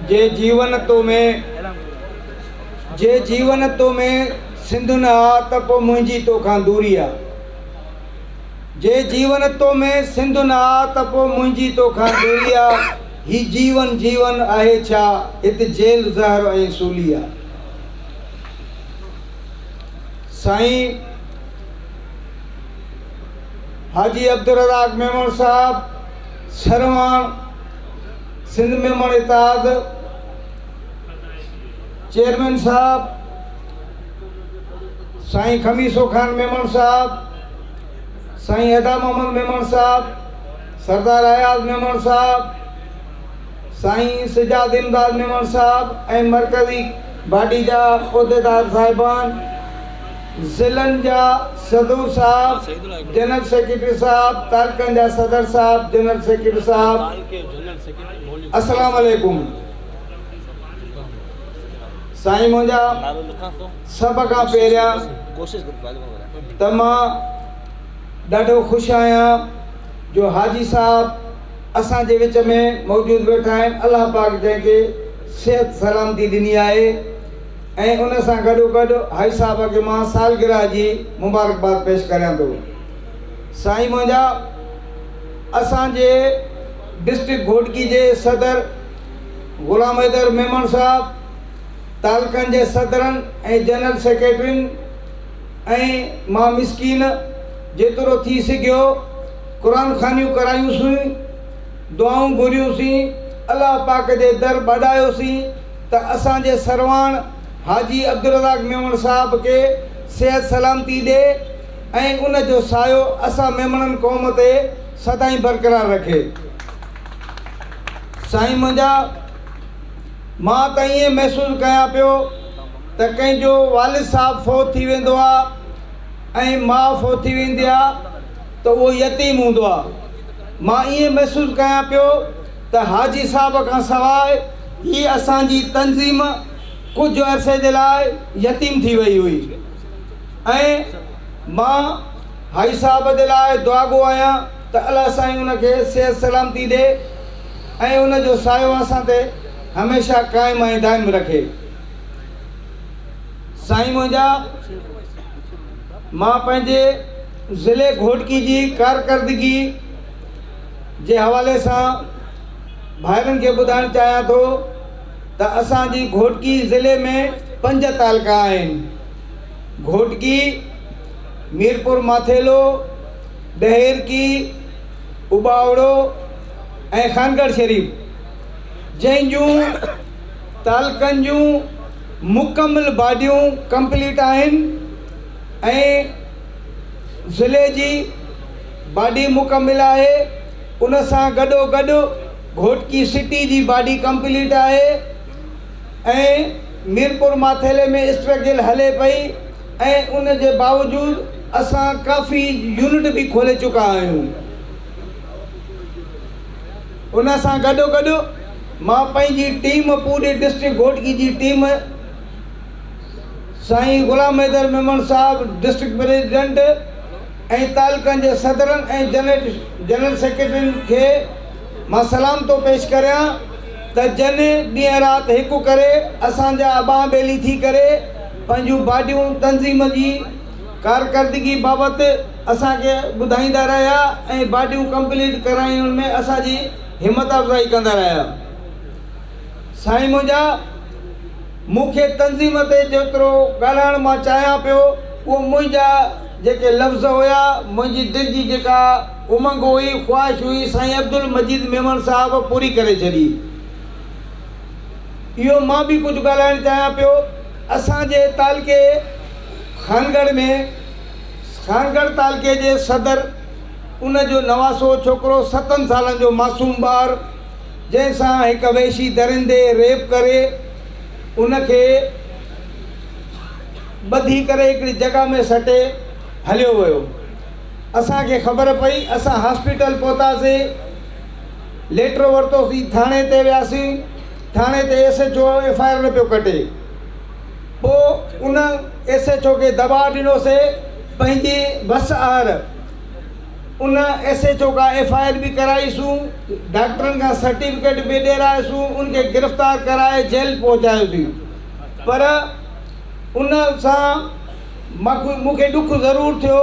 جي جيون تو ۾ جي جيون تو ۾ سنڌ نه آ ته پو منهنجي تو کان دوري آ جي جيون تو ۾ سنڌ نه آ ته پو منهنجي تو کان دوري آ هي جيون جيون آهي ڇا هت جيل زهر ۽ سولي آ سائين حاجي عبدالرزاق ميمڻ صاحب سرواڻ، سنڌ ميمڻ اتحاد چيئرمين صاحب، سائين خميسو خان ميمڻ صاحب، سائين ادا محمد ميمڻ صاحب، سردار اياز ميمڻ صاحب، سائين سجاد امداد ميمڻ صاحب ۽ مرڪزي باڊي جا عهديدار صاحبان. ضلعن جا صدور صاحب، جنرل سيڪريٽري صاحب، تعلقن جا صدر صاحب، جنرل سيڪريٽري صاحب، السلام عليڪم. سائين منهنجا سڀ کان پهريان ته مان ڏاڍو خوش آهيان جو حاجي صاحب اسان جي وچ ۾ موجود ويٺا آهن الله پاڪ جنهن کي صحت سلامتي ڏني آهي ۽ ان سان گڏوگڏ هائي صاحب کي مان سالگرهه جي مبارڪباد پيش ڪريان ٿو. سائين منهنجا اسان جي ڊسٽرڪٽ گهوٽڪي جي صدر غلام حيدر ميمڻ صاحب، تعلقن جي صدرن ۽ جنرل سيڪريٽرين ۽ مان مسڪين جيترو ٿي سگهيو قرآن خوانيون ڪرايون سين، دعائون گهريون سين، الله پاڪ جي در ٻاڏايو سين ته اسان جي سرواڻ حاجي عبدالرزاق ميمڻ صاحب کي صحت سلامتي ڏي ۽ ان جو سايو اسان ميمڻن قوم تي سدائين برقرار رکي سائين منهنجا مان ته ائين محسوس ڪيان پيو ته ڪنهن جو والد صاحب فوت ٿي ويندو آ ۽ ماء فوت ٿي ويندي آ ته اهو يتيم هوندو آ مان ائين محسوس ڪيان پيو ته حاجي صاحب کان سواء ئي اسان جي تنظيم ڪجهه عرصي جي لاء يتيم ٿي وئي هئي ۽ مان حاجي صاحب جي لاء دعاگو آهيان ته الله سائين ان کي صحت سلامتي ڏي ۽ ان جو سايو اسان تي هميشه قائم ۽ دائم رکي سائين منهنجا مان پنهنجي ضلعي گهوٽڪي جي ڪارڪردگي جي حوالي سان ڀائرن کي ٻڌائڻ چاهيان ٿو ته اسان جي گهوٽڪي ضلعي ۾ پنج تعلقا آهن گهوٽڪي، ميرپور ماٿيلو، ڏهيرڪي، اٻاوڙو ۽ خانڳڙهه شريف جنهن جون تعلقن جون مڪمل باڊيون ڪمپليٽ آهن ۽ ضلعي جي باڊي مڪمل آهي ان سان گڏو گڏ گهوٽڪي سٽي جي باڊي ڪمپليٽ آهي ۽ ميرپور ماٿيلي ۾ اسٽرگل هلي پئي ۽ ان جي باوجود اسان ڪافي يونٽ به کولي چڪا آهيون ان سان گڏو گڏ مان پنهنجي ٽيم پوري ڊسٽرڪٽ گهوٽڪي جي ٽيم سائين غلام حيدر ميمڻ صاحب ڊسٽرڪٽ پريزيڊنٽ ۽ تعلقن جي صدرن ۽ جنرل سيڪريٽرين کي مان سلام ٿو پيش ڪريان ته جن ڏينهن رات هڪ ڪري اسان جا ٻانهن ٻيلي ٿي ڪري پنهنجون باڊيون تنظيم جي ڪارڪردگي بابت اسان کي ٻڌائيندا رهيا ۽ باڊيون ڪمپليٽ ڪرائڻ ۾ اسان جي همت افزائي ڪندا رهيا سائين منهنجا مون کي تنظيم تي جيترو ڳالهائڻ مان چاهيان پيو، اهو منهنجا جيڪي لفظ هيا، منهنجي دل جي جيڪا امنگ هئي، خواهش هئي، سائين عبدالمجيد ميمڻ صاحب پوري ڪري ڇڏي. اهو مان به ڪجهه ڳالهائڻ چاهيان پيو. اسان جي تعلقي خانڳڙهه ۾، خانڳڙهه تعلقي جي صدر، ان جو نواسو ڇوڪرو، ستن سالن جو معصوم ٻار، جنهن سان هڪ وحشي درندي ريپ ڪري ان کي ٻڌي ڪري هڪڙي جڳهه ۾ سٽي هليو ويو اسان کي خبر پئي اسان هاسپيٽل پهتاسين ليٽر ورتوسين ٿاڻي تي وياسين ٿاڻي تي S H O F I R نه پيو ڪٽي پوء ان ايس ايچ او کي دٻاء ڏنوسي پنهنجي وس آهر ان ايس ايڇ او کان ايف آء آر به ڪرائي سون، ڊاڪٽرن کان سرٽيفڪيٽ به ڏيرائي سون، ان کي گرفتار ڪرائي جيل پهچايو سين پر ان سان مون کي ڏک ضرور ٿيو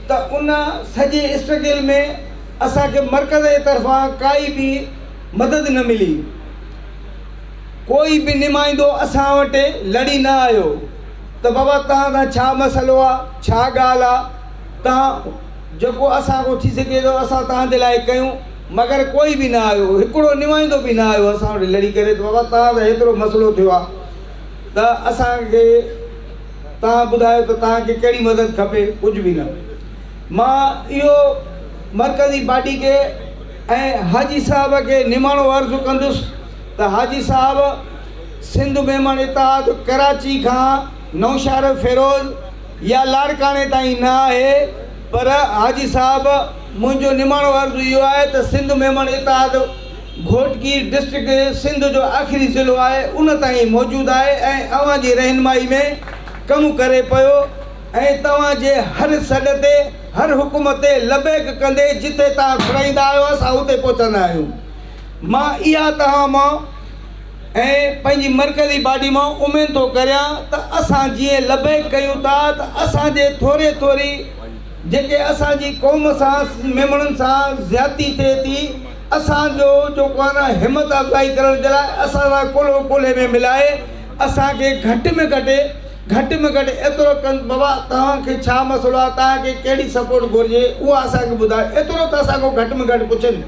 ته ان سڄي اسٽرگل ۾ اسان کي مرڪز جي طرفان ڪائي به مدد نه ملي، ڪوئي به نمائندو اسان وٽ لڙي نه آيو ته بابا توهان سان ڇا مسئلو آ، ڇا ڳالهه آ توهان جيڪو اسان کان ٿي سگهي ٿو اسان توهان جي لاء ڪيون مگر ڪوئي به نه آيو هڪڙو نمائندو به نه آيو اسان وٽ لڙي ڪري ته بابا توهان سان هيترو مسئلو ٿيو آ ته اسان کي توهان ٻڌايو ته توهان کي ڪهڙي مدد کپي ڪجهه به نه مان اهو مرڪزي پارٽي کي ۽ حاجي صاحب کي نماڻو عرض ڪندس ته حاجي صاحب سنڌ ميمڻ اتحاد ڪراچي کان نوشهر فيروز يا لاڙڪاڻي تائين نه آهي پر حاجي صاحب منهنجو نماڻو عرض اهو آهي ته سنڌ ميمڻ اتحاد گهوٽڪي ڊسٽرڪٽ سنڌ جو آخري ضلعو آهي ان تائين موجود آهي ۽ اوهان جي رهنمائي ۾ ڪم ڪري پيو ۽ توهان جي هر سڏ تي هر حڪم تي لبيڪ ڪندي جتي توهان گهرائيندا آهيو اسان اتي پهچندا آهيون مان اها توهان مان ۽ پنهنجي مرڪزي باڊي مان امين ٿو ڪريان ته اسان جيئن لبيڪ ڪيون ٿا ته اسان جي ٿوري ٿوري جيڪي اسان جي قوم سان ميمڻن سان زيادتي ٿئي ٿي اسان جو جو ڪو نه همت افزائي ڪرڻ جي لاء اسان سان ڪلهو ڪلهي ۾ ملائي اسان کي گهٽ ۾ گهٽ گهٽ ۾ گهٽ ايترو ڪن بابا توهان کي ڇا مسئلو آهي توهان کي ڪهڙي سپورٽ گهرجي اها اسان کي ٻڌايو ايترو ته اسان کان گهٽ ۾ گهٽ پڇن.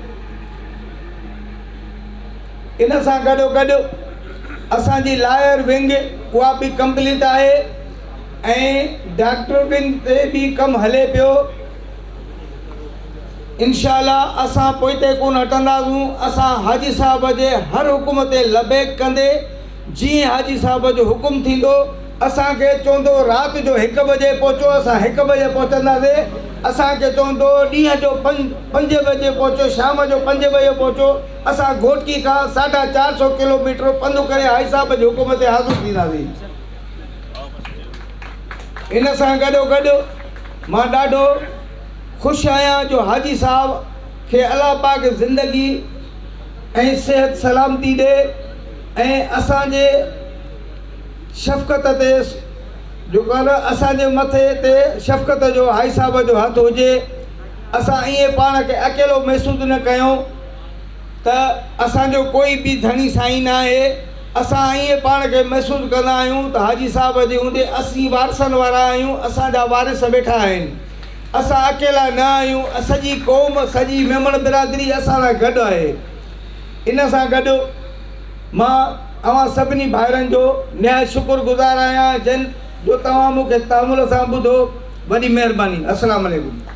ان سان گڏو گڏ اسان جي لائر ونگ اها به ڪمپليٽ آهي ۽ ڊاڪٽر ونگ تي به ڪم هلي پيو انشاء الله اسان پوئتي ڪون هٽنداسون اسان حاجي صاحب جي هر حڪم تي لبيڪ ڪندي جي حاجي صاحب جو حڪم ٿيندو اسان کي چوندو رات جو هڪ بجي پهچو اسان هڪ بجي پهچنداسي اسان کي چوندو ڏينهن جو پنج پنج بجي پهچو شام جو پنج بجي پهچو اسان گهوٽڪي کان ساڍا چار سو ڪلو ميٽر پنڌ ڪري حائج صاحب جي حڪم تي حاضر ٿينداسين. ان سان گڏو گڏ مان ڏاڍو خوش آهيان جو حاجي صاحب کي الله پاڪ زندگي ۽ صحت سلامتي ڏي ۽ اسان جي شفقت تي جو ڪانه اسان جي مٿي تي شفقت جو حائج صاحب جو هٿ هجي. اسان ائين پاڻ کي اڪيلو محسوس نه ڪيون ته اسان جو ڪوئي ٻي ڌڻي سائين نه آهي. اسان ائين پاڻ کي محسوس ڪندا آهيون ته حاجي صاحب جي هوندي اسين وارثن وارا آهيون، اسان جا وارث ويٺا آهن. اسان اڪيلا نه آهيون، سڄي قوم، سڄي ميمڻ برادري اسان سان گڏ آهي. ان سان گڏ مان اوهان سڀني ڀائرن جو نهايت شڪر گذار آهيان جن جو توهان مون کي تحمل سان ٻڌو. وڏي مهرباني. السلام عليڪم.